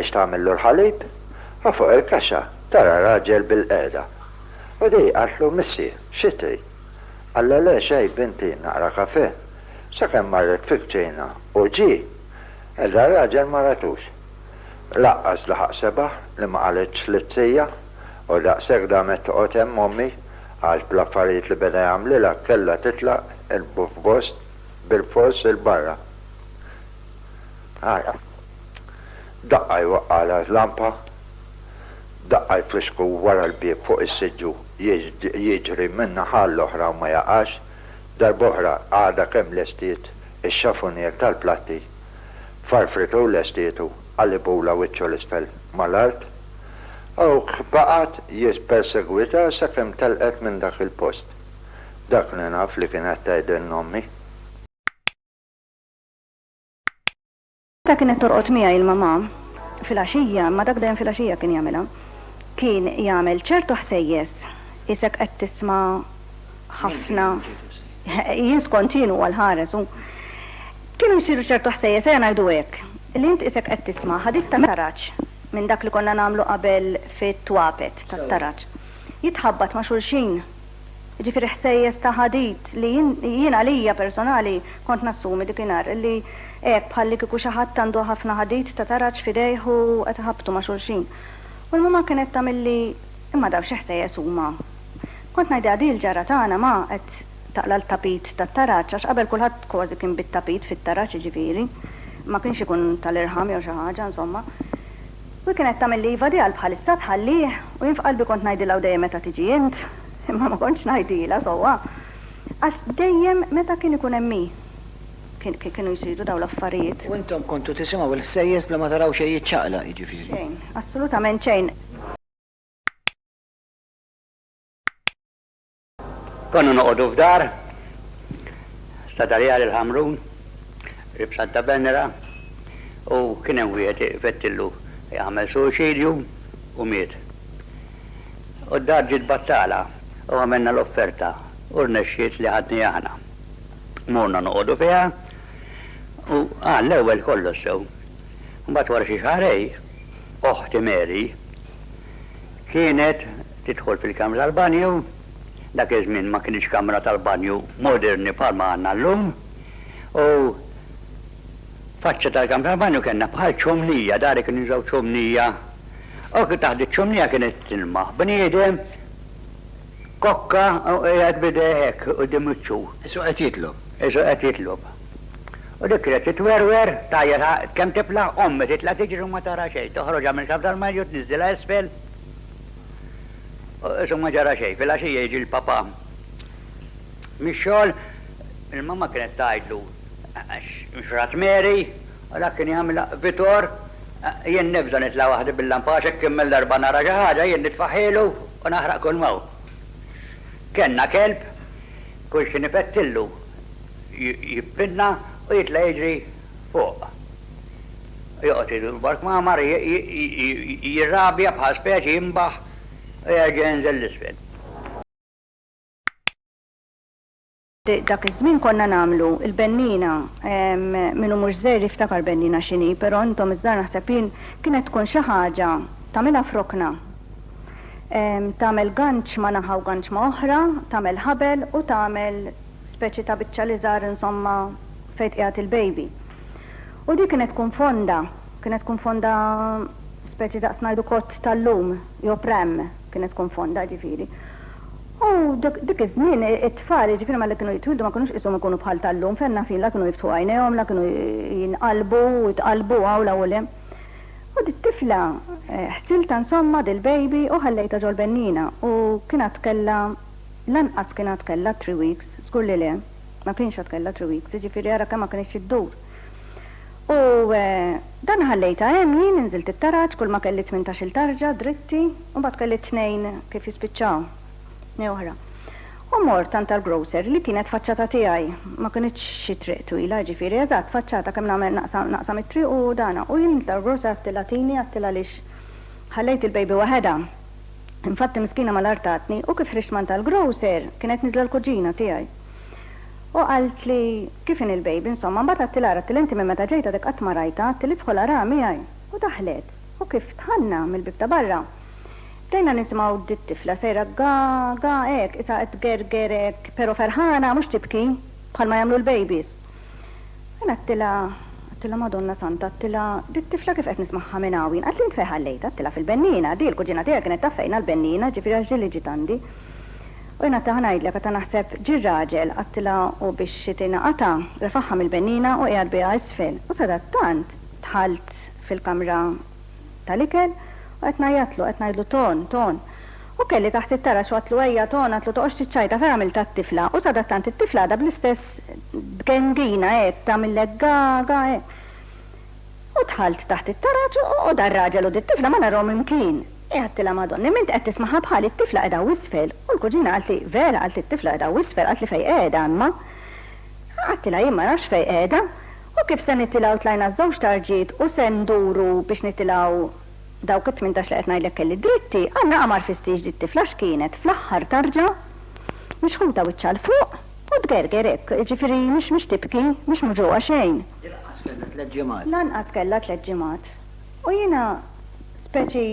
biex tagħmillu l-ħalib, u fuq il-kaxxa tara raġel bilqiegħda. U di qaltlu, Missi, xi trid? Qallha, Le xejn, binti, naqra kafè. Sakemm marret fil-kċina u ġie, iżda r-raġel ma ratux. Lanqas laħaq sebaħ li ma qalitx lit-trija. U daqshekk damet toqgħod hemm ommi għax bl-affarijiet li beda jagħmlilha kellha titlaq il-b'fost bilfors 'il barra. Ara. Daqqa jwaqqagħlha l-lampa, daqqa jfissku wara l-bieb fuq is-siġġu jiġri minn naħa għall-oħra u ma jaqax, darb'oħra għadha kemm lestiet ix-xafunier tal-platti, farfritu u lestietu. Qalibulha wiċċu 'l isfel mal-art. Hawk baqgħet jippersegwitha sakemm telqet minn dak il-post. Dak li naf li kienet tgħidilna ommi. Meta kienet torqod miegħi il-mamà fil-għaxija, imma dak dejjem fil-għaxija kien jagħmilha, kien jagħmel ċertu ħsejjes, qisek qed tisma' ħafna jien skont jien huwa l-ħares u kienu jsiru ċertu ħsejjes ejja ngħidu hekk li int isek qed tisma' ħadith ta' taraġ minn dak li konna nagħmlu qabel fit-twapet tat-taraġ jitħabbat ma' xulxin, jiġifieri ħsejjes ta' ħadid li jien għalija personali kont nassumi dikinhar li hekk bħallikieku xi ħadd għandu ħafna ħadid ta' taraġ f'idejh u qed iħabbtu ma' xulxin. U l-mamà kienet tagħmilli imma dawn xi ħsejjes huma? Kont ngħidilha din il-ġarra tagħna ma qed taqla' l-tapit tat-taraġ għax qabel kulħadd kważi kien bit-tapit fit-taraġ jiġifieri ma kienx ikun tal-irħam jew xi ħaġa insomma. U hi kienet tagħmilli iva di għal bħalissa tħallih u jien f'qalbi kont ngħidilha u dejjem meta tiġi int? Imma ma kontx ngħidilha sewwa għax dejjem meta kien ikun hemm hi kien kienu jsiru dawn l-affarijiet. U intom kontu tisimgħu l-ħsejjes bla ma taraw xejn jiċċaqlaq jiġifieri. Xejn, assolutament xejn. Konna noqogħdu f'dar ta' Darjal il-Ħamrun, rib Santa Venera, u kien hemm wieħed fettillu jagħmel suwiċidju u miet. U d-dar ġiet battala u għamilna l-offerta u rnexxiet li ħadniha aħna. Morna noqogħdu fiha u qal l-ewwel kollox sew. Mbagħad wara xi xahrejn oħti Mary kienet tidħol fil-kamra tal-banju, dak iż-żmien ma kinitx kamra tal-banju moderni bħal ma għandna llum, u faċċa tal-kamra tal-banju kellna bħal ċomnija, dari kienu jużaw ċomnija, u taħt iċ-ċomnija kienet tilmaħ bniedem. Kokka u qiegħed b'idejh hekk quddiem wiċċu. Isu qed jitlob. Isu qed jitlob. U dik kienet titwerwer, tgħajjat kemm tiflaħ, ommi titla' tiġri u ma tara xejn. Toħroġha minn xaft tal-marju, tniżżilha isfel u isu ma ġara xejn. Filgħaxija jiġi l-papà mix-xogħol, il-mamma kienet tgħidlu, X'rat Mary? U dak kien jagħmilha, Vitor, jien nibża' nitla' waħdi bil-lampa għax hekk kemm-il darba nara xi ħaġa jien nitfaħħielu U naħraq kull m'hawn. Kellna kelb, kull xi nipettillu jippinna u jitla' jiġri fuq. Joqgħod idur b'har kmamar, jirrabja bħal speċi, jinbaħ u jerġa' jinżel 'l isfel. Dak iż-żmien konna nagħmlu l-bennina, min hu mhux żgħir jiftakar bennina x'inhi, però intom iż-żgħar naħseb jien kienet tkun xi ħaġa tagħmilha f'rokna. Tagħmel ganċ ma' naħa u ganċ ma' oħra, tagħmel ħabel u tagħmel speċi ta' biċċa l-iżgħar insomma fejn tqiegħed il-baby. U dik kienet tkun fonda, kienet tkun fonda speċi daqs ngħidu kott tal-lum jew pram, kienet tkun fonda ġifieri. U dik iż-żmien it-tfal, jiġifieri meta kienu jitwieldu ma kinux qishom ikunu bħal tal-lum fejn nafin la kienu jiftħu għajnejhom la kienu jinqalbu u jitqallbu hawn u hemm. U dit-tifla ħsiltha insomma dil-baby u ħallejtha ġol-bennina u kien għad kellha lanqas kien għad kellha three weeks, żgur li le, ma kienx għad kellha three weeks, jiġifieri ara kemm ma kinitx iddur. U dan ħallejtha hemm jien, inżilt it-taraġ, kulma kelli tmintax-il tarġa dritti, u mbagħad kelli t-tnejn kif jispiċċaw, tnejn oħra. U mort għand tal-grocer li kienet faċċata tiegħi, ma kinitx xi triq twila, jiġifieri eżatt faċċata kemm nagħmel naqsa naqsa mit-triq u dana. U jien tal-grocer għedtilha tini, għedtilha għaliex ħallejt il-baby waħedha. Infatti miskina malajr tatni, u kif ħriġt m'għand tal-grocer, kienet niżla l-kuġina tiegħi. U qaltli, Kif inhi l-baby, insomma? Mbagħad għadtilha ara għadtilha inti minn meta ġejt għadek qatt ma rajtha, għadtilhi idħol araha miegħi. U daħlet. U kif dħalna mill-bieb ta' barra, bdejna nisimgħu dit-tifla sejra ga, ga hekk, qisha qed tgerger hekk, però ferħana, mhux tibki, bħalma jagħmlu l-babies. U jien għadtilha, għadtilha Madonna Santa, għadtilha, dit-tifla kif qed nismagħha minn hawn jien? Qaltli int fejn ħallejtha? Għadtilha fil-bennina, di l-kuġina tiegħi kienet taf fejn għall-bennina, jiġifieri għax ġieli ġiet għandi. U jiena taħt ngħidlek, għad ta' naħseb, ġie r-raġel, qattilha u biex tingħaqadha, refagħha mill-benniena u qiegħed biha isfel. U sadattant dħalt fil-kamra tal-ikel u qed ngħajjatlu, qed ngħidlu Ton, Ton. U kelli taħt it-taraġ u għadtlu Ejja, Ton, għadtlu toqgħodx tiċċajta, f'hekk għamiltha t-tifla. U sadattant it-tifla għadha bl-istess b'gengina hekk, tagħmillek ga, ga hekk. U dħalt taħt it-taraġ u da' r-raġel u dit-tifla ma narhom imkien. Hi għadtilha Madonna, imma int qed tismagħha bħali, t-tifla qiegħda hawn isfel. U l-kuġina qaltli, Vera, qaltli t-tifla qiegħda hawn isfel, qaltli fejn qiegħda imma. Għadtilha jien ma nafx fejn qiegħda. U kif se nitilgħu tlajna ż-żewġ tarġiet u se nduru biex nitilgħu dawk it-tmintax li qed ngħidlek kelli dritti, allura qa ma rfistiex dit-tifla x'kienet fl-aħħar tarġa, mixħuta wiċċha 'l fuq u tgerger hekk, jiġifieri mhix tibki, mhix muġugħa xejn. Hi lanqas kellha tliet ġimgħat. Lanqas kellha tliet ġimgħat. U jiena speċi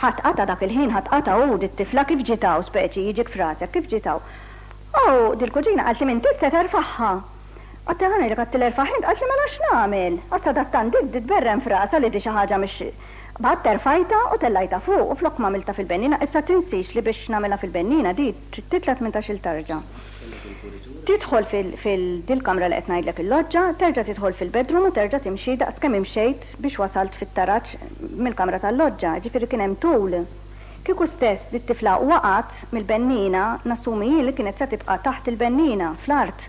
ħadd qata' dak il-ħin, ħadd qata' u dit-tifla kif ġiet hawn speċi jiġik f'rasek, kif ġiet hawn. U dil-kuġina qaltli m'int issa terfagħha. Għadtha ħa ngħidlek għadtha erfagħha int, qaltli mela x'nagħmel? Għax sadattant di tberren f'rasha li di xi ħaġa mhix B'għadd terfajtha u tellajtha fuq u flok m'għamiltha fil-bennina issa tinsiex li biex nagħmilha fil-bennina di trid titla' tmintax-il tarġa. Tidħol fil, dil-kamra li qed ngħidlek il-loġġa, terġa' tidħol fil-bedroom u terġa' timxi daqs kemm imxejt biex wasalt fit-taraġ mill-kamra tal-loġġa, jiġifieri kien hemm tul. Kieku stess dit-tifla waqgħet mill-benniena, nassumi hi li kienet se tibqa' taħt il-benniena, fl-art.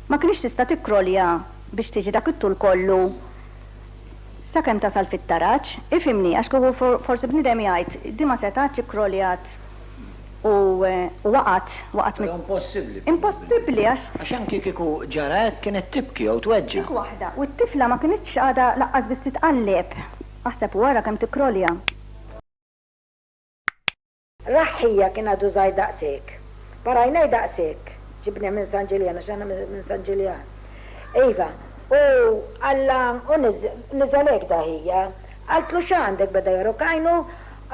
Ma kinitx tista' tikkrolja biex tiġi dak it-tul kollu sakemm tasal fit-taraġ. Ifhimni, għax kieku forsi bniedem jgħid, din ma setgħetx, ikkroljat. u waqgħet, waqgħet mill-. Però impossibbli. Impossibbli għax. Għax anki kieku ġara hekk kienet tibki jew tweġġa'. Dik waħda. U t-tifla ma kinitx għadha laqqas biss titqalleb. Aħseb u ara kemm tikkrolja. Raħħija kien għadu żgħir daqshekk. Par għajnej daqshekk. Ġibnieh minn San Ġiljan għax aħna minn San Ġiljan. Iva. U Alla u niżel hekk daħija. Qaltlu x'għandek? Beda jorok għajnu.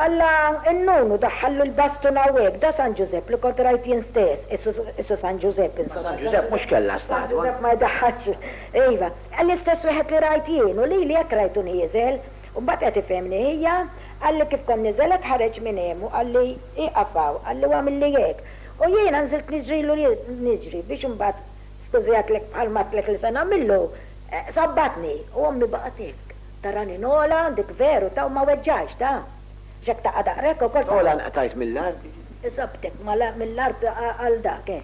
Alla nnunu daħħallu l-bastun hawnhekk, da San Ġużepp li kont rajt jien stess, issu San Ġużepp insomma. Ma San Ġużepp mhux kellha statwa. San Ġużepp ma jdaħħalx, iva. L-istess wieħed li rajt jien, u lili hekk rajtu nieżel. U mbagħad qed ifhemni ħija, qalli kif kont niżelet ħareġ minn hemm u qalli ieqaf hawn, qalli u agħmilli hekk. U jiena nżilt niġrilu niġri biex imbagħad, skużi għidtlek bħalma għidtlek li se nagħmillu, sabbatni u ommi baqgħet tibki. Tarani Nola, dik veru ta' u ma weġġajx, ta? X'hekk taqa' daqra hekk ukoll ta'. Nola nqtajt mill-art. Sabtek mill-art għal dak, eh.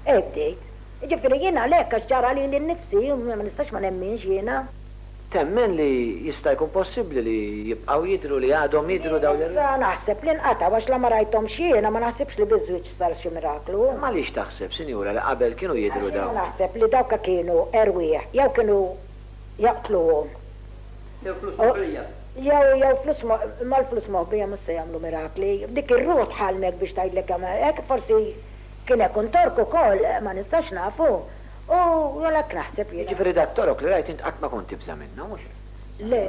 Eh bdejt. Jiġifieri jien għalhekk għax ġara lili nnifsi u ma nistax ma nemminx jiena. Temmen li jista' jkun possibbli li jibqgħu jidhru, li għadhom jidhru dawn ir. Jien issa naħseb li nqatgħu għax la ma rajthomx jiena, ma naħsibx li biż-żwieġ sar xi miraklu. Imma għaliex taħseb, Sinjura, li qabel kienu jidhru dawn. Għax jiena naħseb li dawk kienu erwieħ jew kienu. jaqtluhom. Jew flus moħbija. Jew, jew flus mo, imma l-flus moħbija mhux se jagħmlu mirakli. Dik ir-ruħ tħallmek biex tgħidlek jagħmel hekk, forsi kien hekk un Tork ukoll, ma nistax nafu, u għalhekk naħseb jiena. Jiġifieri da Torok li rajt int qatt ma kont tibża' minnu, mhux hekk? Le,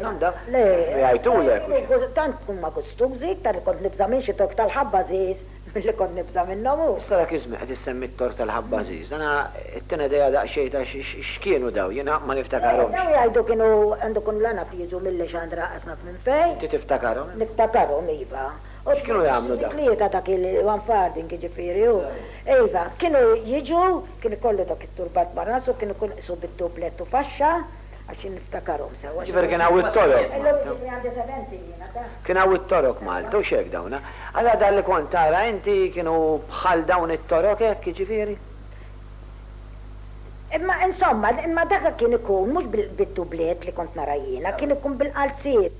le. Jgħidulek u xi. Tant huma gustużi, iktar li kont nibża' minn xi Tork tal-ħabbażiż. Billi kont nibża' minnhom u. Sara Kizme qed issemmi t-tort tal-ħabb għażiż. Dana ttina idea daqsxejn ta' x'kienu dawn. Jien ma niftakarhomx. Dawn jgħidu kienu għandu jkunu l-għanaf jiġu mill-Lexandra qas naf minn fejn. Inti tiftakarhom? Niftakarhom, iva. X'kienu jagħmlu dawn? Tlieta dak il-one farthing jiġifieri u. Iva, kienu jiġu, kien ikollu dak it-turbat ma' rasu, kien ikun qisu bid-dublet u faxxa. Għax jien niftakarhom sewwa. Jifer kien hawn it-Torok. Illum iġibni għand is-Seventy jiena, tah? Kien hawn it-Torok Malta u x'hekk dawn, ha? Allura dak li kont tara inti kienu bħal dawn it-Torok hekk jiġifieri? Imma insomma, imma dak kien ikun mhux bid-dubliet li kont nara jiena, kien ikun bil-qalziet.